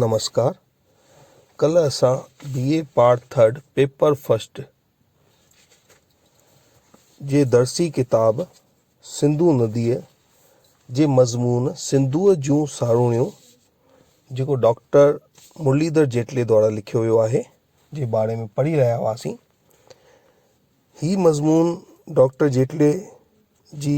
نمسڪار ڪلهه اسان B A part third paper first جي درسي ڪتاب سنڌو نديء جي مضمون سنڌوء جون ساروڻيون جيڪو ڊاڪٽر مرليڌر جيٽلي دوارا لکيو ويو آهي جي باري ۾ پڙهي رهيا هئاسين هي مضمون ڊاڪٽر جيٽلي جي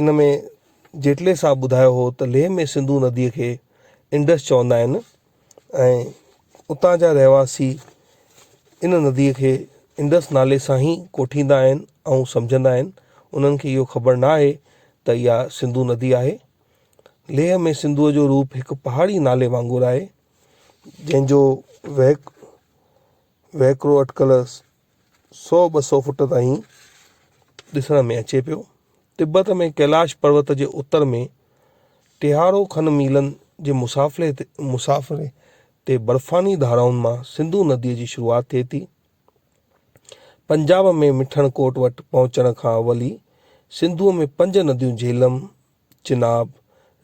ان ۾ جيٽلي صاحب ٻڌايو هو ته ليھ ۾ سنڌو نديء کي انڊس چوندا آهن ۽ اتان جا رهواسي ان نديء کي انڊس نالي سان ئي ڪوٺيندا آهن ۽ سمجهندا آهن انهن کي اهو خبر نه آهي ته اها سنڌو ندي آهي ليھ ۾ سنڌوء جو روپ هڪ پهاڙي نالي وانگر آهي جنهن جو وهڪرو اٽڪل سؤ ٻه سؤ فوٽ تائين ڏسڻ ۾ اچي پيو تبت ۾ ڪيلاش پروت جي اتر ۾ ٽيهارو کن ميلن جي مسافري تي مسافري تي برفاني ڌارائن مان سنڌو نديء جي شروعات ٿئي ٿي پنجاب ۾ مٺڻ ڪوٽ وٽ پهچڻ کان اول ئي سنڌوء ۾ پنج نديون جهلم چناب،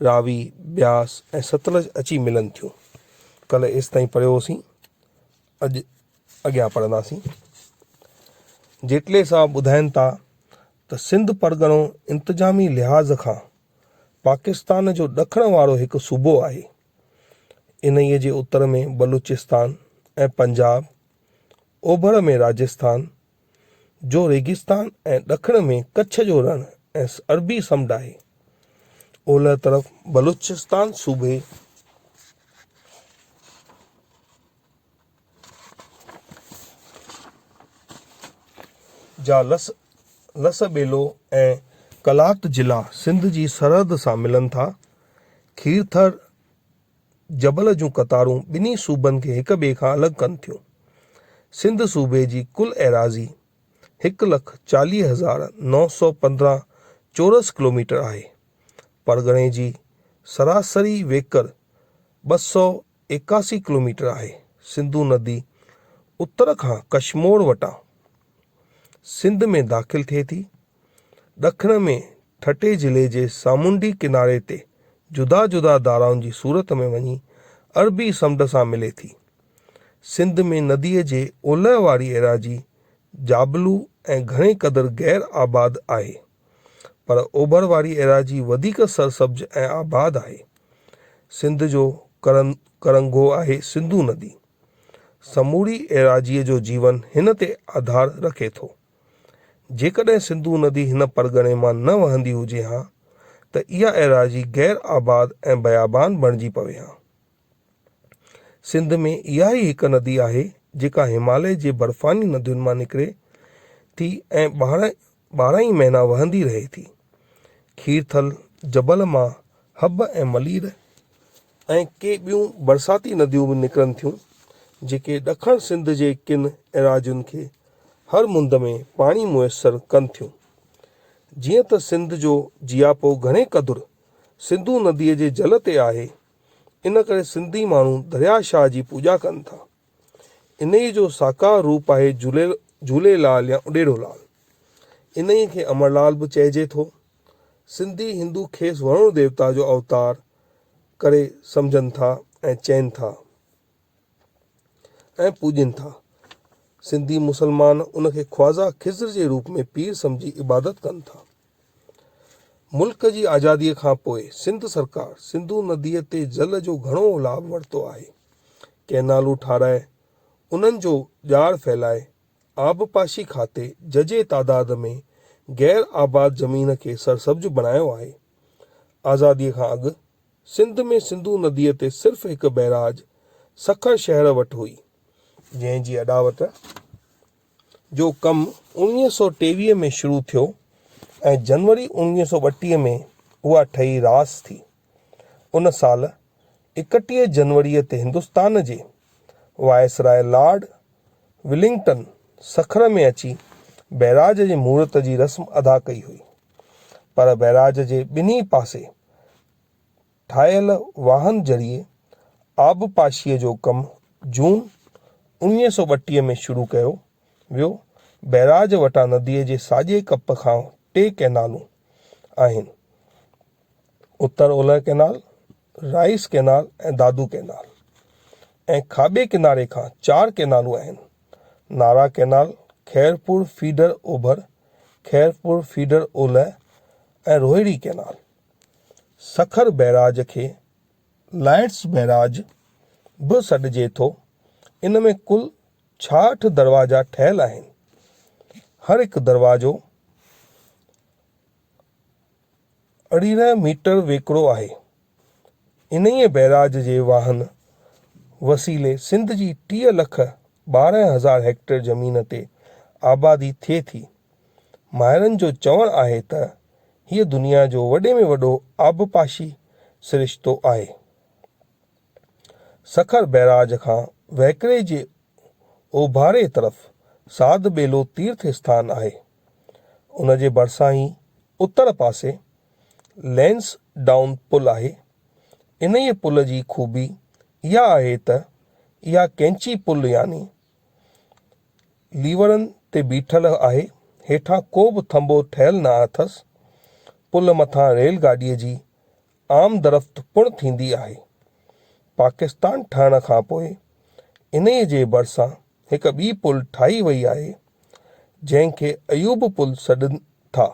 راوي، بياس ۽ ستلج اچي ملن ٿيون. ڪلهه ايستائين پڙهيو هوسين، اڄ اڳيان پڙهنداسين. جيٽلي صاحب ٻڌائين ٿا ته سنڌ پرڳڻو انتظامي لحاظ کان پاڪستان جو ڏکڻ وارو هڪ صوبو آهي. انهيء جي اتر ۾ بلوچستان ۽ پنجاب، اوڀر ۾ راجسٿان، جو ريگستان ۽ ڏکڻ ۾ ڪڇ جو رڻ ۽ عربي سمنڊ آهي. اولهه طرف بلوچستان صوبي جا لس لس ٻيلو ۽ قلات ضلعا سنڌ جي سرحد سان ملن ٿا. کيرٿر، جبل جون قطارون ٻنهي صوبن کي هڪ ٻئي کان الڳ ڪن ٿيون. سنڌ صوبي جي ڪل ايراضي هڪ لک چاليهه هزار نو سؤ پندرهن چورس ڪلوميٽر آهي. پرڳڻي جي سراسري ويڪر ٻه سؤ ايڪاسي ڪلوميٽر آهي. سنڌو ندي اتر کان ڪشمور وٽان سنڌ ۾ داخل ٿئي ٿي. ڏکڻ ۾ ٺٽي ضلعي جي سامونڊي ڪناري تي جدا جدا ڌارائن جي صورت ۾ وڃي عربي سمنڊ سان ملي ٿي. سنڌ ۾ نديء جي اولهه واري ايراضي جابلو ۽ گهڻي قدر غير آباد آهي، پر اوڀر واري ايراضي وڌيڪ سرسبز ۽ آباد آهي. سنڌ جو ڪرنگهو آهي سنڌو ندي. سموري ايراضيء جو جيون هن تي آڌار رکي ٿو. جيڪڏهن سنڌو ندي هن پرڳڻي مان نه وهندي هجي ها ته اها ايراضي غير آباد ۽ بيابان بڻجي پوي ها. سنڌ ۾ اها ئي هڪ ندي آهي جيڪا هماليه جي برفاني ندين مان نڪري ٿي ۽ ٻارهن ٻارهن ئي مهينا وهندي رهي ٿي. کيرٿل جبل مان حب ۽ ملير ۽ ڪي ٻيون برساتي نديون به نڪرن ٿيون، جيڪي ڏکڻ سنڌ جي ڪن ايراضين کي هر مند ۾ پاڻي ميسر ڪن ٿيون. جيئن ته سنڌ جو جياپو گهڻي قدر سنڌو نديء جي جل تي آهي، ان ڪري سنڌي ماڻهو درياء شاهه جي پوڄا ڪن ٿا. انهيء جو ساڪار روپ آهي جهولي لال يا اڏيڙو لال. انهيء کي امڙ لال به چئجي ٿو. سنڌي هندو کيس ورڻ ديوتا جو اوتار ڪري سمجهن ٿا ۽ چين ٿا ۽ پوڄين ٿا. سنڌي مسلمان ان کي خواجه خضر جي روپ ۾ پير سمجهي عبادت ڪن ٿا. ملڪ جي آزاديء کان پوء سنڌ سرڪار سنڌو نديء تي جل جو گهڻو لاڀ ورتو آهي. ڪئنالون ٺاهرائي، انهن جو ڄار ڦهلائي، آبپاشي کاتي ججهي تعداد ۾ غير آباد زمين کي سرسبز بڻايو آهي. آزادي کان اڳ سنڌ ۾ سنڌو نديء تي صرف هڪ بئراج سکر شهر وٽ هئي، جنهن جي اڏاوت جو ڪم اوڻويهه سؤ ٽيويهه ۾ شروع ٿيو ۽ جنوري اوڻويهه سؤ ٻٽيهه ۾ اها ٺهي راس ٿي. ان سال اڪٽيهه جنوريء تي هندستان جي وائسراء لارڊ ولنگٽن سکر ۾ اچي بئراج جي مورت جي رسم ادا ڪئي هئي، پر بئراج جي ٻنهي پاسي ٺاهيل واهن ذريعي آبپاشيء جو ڪم جون اوڻيهه سؤ ٻٽيهه ۾ شروع ڪيو ويو. بئراج وٽان نديء جي ساڄي ڪپ کان ٽي ڪئنالون آهن. اتر اولهه canal, rice canal ۽ Dadu canal ۽ کاٻي ڪناري کان چار ڪئنالون آهن، نارا ڪئنال، خيرپور فيڊر اوڀر، خيرپور فيڊر اولهه ۽ روهڙي ڪئنال. سکر بئراج کي لائيٽس بئراج به سڏجي ٿو. ان ۾ ڪل ڇاهٺ دروازا ٺهيل آهن. هر هڪ دروازو. ارڙهن ميٽر ويڪرو آهي. انهيء بئراج جي واهن وسيلي سنڌ جي ٽيهه لک ٻارهن هزار هيڪٽر زمين تي آبادي ٿئي ٿي. ماهرن جو چوڻ آهي ته هيء دنيا جو وڏي ۾ وڏو آبپاشي سرشتو آهي. سکر بئراج کان وهڪري جي اوڀاري طرف ساڌ ٻيلو تيرٿ اسٿان آهي. ان جي ڀرسان ئي اتر پاسي لينس ڊائون پل آهي. انهيء پل جي خوبي اها آهي ته اها ڪئنچي پل يعني ليورن تي بيٺل آهي، هيٺان ڪو به ٿنڀو ٺهيل نه اٿس. پل مٿان ريل گاڏيء جي آمدرفت پڻ ٿيندي آهي. پاڪستان ٺهڻ کان پوء انهيء جي ڀرسان هڪ ٻي پل ٺاهي وئي آهي جنهن کي ايوب پل سڏن ٿا.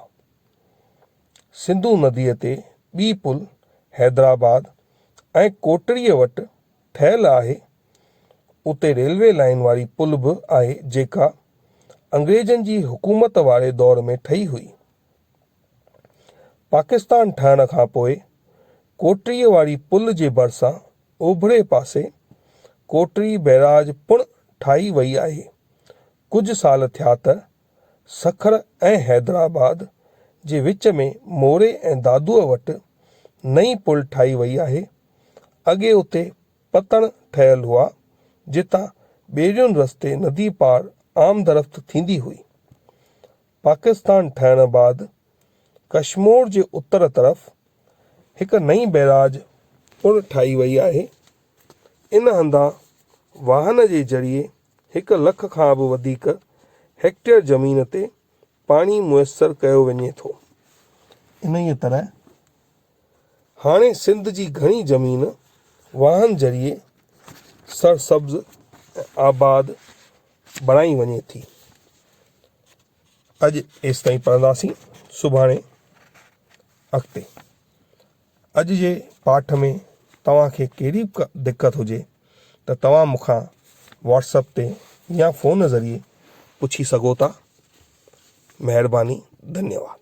سنڌو نديء تي ٻي پل حيدرآباد ۽ ڪوٽڙيء وٽ ٺهيل آهي. اتي ريلوي لائين واري پل به آهي جيڪا انگريزن جي حڪومت واري دور ۾ ٺهي هئي. پاڪستان ٺهڻ کان پوء ڪوٽڙي واري پل جي ڀرسان اوڀري پاسي ڪوٽڙي بئراج پڻ ٺاهي وئي آهي. ڪجهه سال ٿيا ته سکر ۽ حيدرآباد جي وچ ۾ موري ۽ دادوء وٽ نئين پل ٺاهي وئي آهي. اڳي اتي پتڻ ٺهيل هئا، جتان ٻيڙين رستي ندي پار آمدرفت ٿيندي هئي. پاڪستان ٺهڻ بعد ڪشمور جي اتر طرف هڪ نئين بئراج پڻ ٺاهي وئي آهي. ان هنڌان واهن جي ذريعي هڪ لک کان به وڌيڪ هيڪٽيئر زمين تي پاڻي ميسر ڪيو وڃي ٿو. انهيء طرح هاڻي سنڌ جي گهڻي زمين واهن ذريعي سرسبز ۽ آباد بڻائي وڃي ٿي. اڄ ايستائين پڙهنداسين سڀاڻي اڳتي. اڄ جي پاٺ ۾ توهان کي ڪهڙي به دقت هجي ته توهان مون کان واٽسپ تي يا فون ذريعي پڇي سگهو ٿا. مهرباني ڌنيواد.